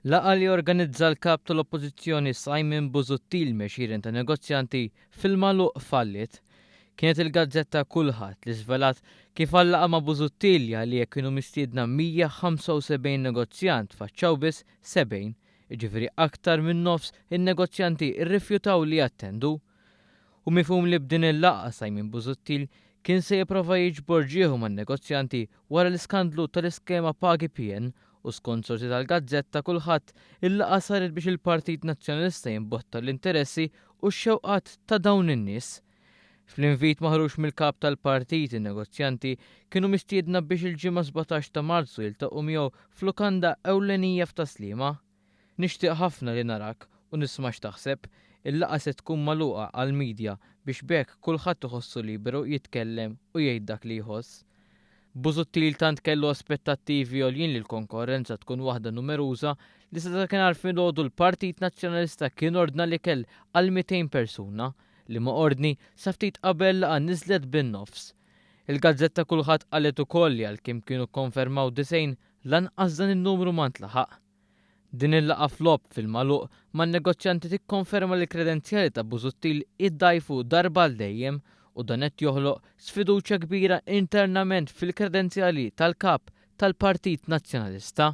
Laqgħa li organizza l-Kap tal-Oppożizzjoni Simon Busuttil me' xieren ta' negozjanti fil-magħluq falliet. Kienet il-gazzetta Kulħadd li żvelat kif għal-laqgħa ma' Busuttil li għaliha kienu mistiedna 175 negozjant faċċaw biss 70, jiġifieri aktar min-nofs in-negozjanti rrifjutaw li jattendu. Hu mifhum li b'din il-laqgħa Simon Busuttil kien se jipprova jiġbor ġieħu man-negozjanti wara l-iskandlu tal-iskema Pagi PN u skont sorsi tal-gazzetta Kulħadd il-laqgħa saret biex il-Partit Nazzjonalista jimbotta l-interessi u x-xewqat ta' dawn in-nies. Fl-invit maħruġ mill-Kap tal-Partit in-negozjanti kienu mistiedna biex il-Ġimgħa 17 ta' Marzu jiltaqgħu miegħu f'lukanda ewlenija f'Tas-Sliema. Nixtieq ħafna li narak u nisma' x'taħseb. Il-laqgħa se tkun magħluqa għall-media biex b'hekk kulħadd iħossu liberu jitkellem u jgħid dak li jħoss. Busuttil tant kellu aspettattivi għoljin li l-konkorrenza tkun waħda numeruża li sa dakinhar filgħodu l-Partit Nazzjonalista kien ordna l-ikel għal 200 persuna, liema ordni sa ftit qabel laqgħa niżlet bin-nofs. Il-gazzetta Kulħadd qalet ukoll li għalkemm kienu kkonfermaw 90 Lanqas dan in-numru ma ntlaħaq. Din il-laqgħa f'logħob fil-magħluq man-negozjanti tikkonferma li l-kredenzjali ta' Busuttil iddgħajfu darba għal dejjem u dan qed joħloq sfiduċja kbira internament fil-kredenzjali tal-Kap tal-Partit Nazzjonalista.